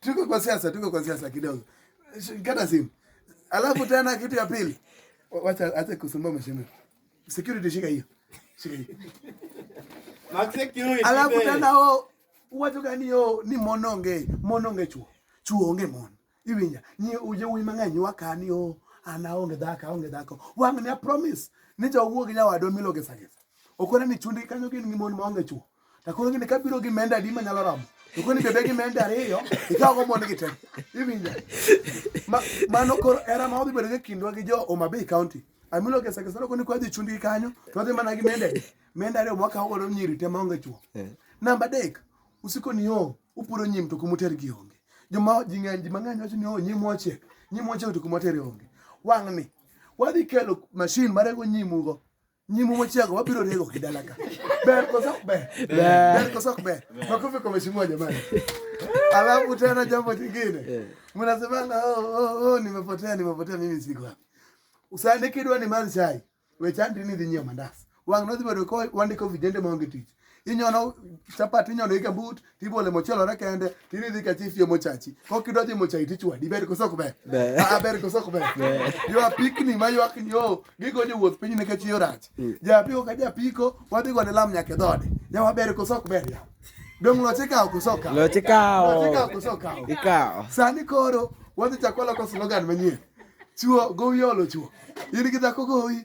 tuko kwa siasa, tuko kwa siasa kidogo. Kata simu. Alafu tena kitu ya pili. Wacha acha kusumbua mheshimiwa. Security shika hiyo. Shika hiyo. Max security. Alafu tena ho watu gani yo ni mononge, mononge chuo. Chuo onge mon. Iwinya, ni uje uimanganyi wakani yo anaonge dhaka, onge dhaka. Wang'ni a promise. Nijo wuogi nyawadwa miloge sagesa. Okona ni chundi kanyo gin ngimon maonge chuo. To koro gini ka biro gi menda adi manyalo romo? To koro ni bebe gi menda ariyo, ikawo go mon gi te. Iwinja? Ma, mano koro era ma odhi bedo gi kindwa gi jo Homa Bay County. Amilo kesa kesa koni kwa dhi chundi kanyo, to dhi mana gi menda adi. Menda ariyo mwaka ogo do nyiri te maonge chuo. Namba dek, usiko ni yo, upuro nyim to kumuter gi onge. Joma ji ng'eny ji mang'eny wacho ni yo nyim wachiek, nyim wachiek to kumater onge. Wang'ni, wadhi kelo mashin marego nyimugo Nyimu mochego wabiro rego kidala ka. Ber koso ok ber? Ber koso ok ber? Makofi kwa mheshimiwa jamani. Alafu tena jambo jingine. Eh. Mnasemanga oh, oh, oh, nimepotea nimepotea mimi siko hapa. Usandikidwa ni manzai. Wechandi ni dhinyo mandas. Wang nodhi bedo ko wandiko vijende maonge tich. inyono chapat inyono ike but tibole mochielore kende tiridhi ka chief yo mochachi kok idwa dhi mochachi tichwadi ber koso ok ber Ber. Ah, ber koso ok ber Ber. ywa pikni ma ywak ni o gigo jowuoth piny nikech yo rach japiko ka japiko wadhi gone lam nyaka e dhode yawa ber koso ok ber yawa dong' loch ikawo koso okawo Loch ikawo. Loch ikawo koso okawo Ikawo. sani koro wadhi chako loko slogan manyien chuo gowi olo chuo in gi dhako gowi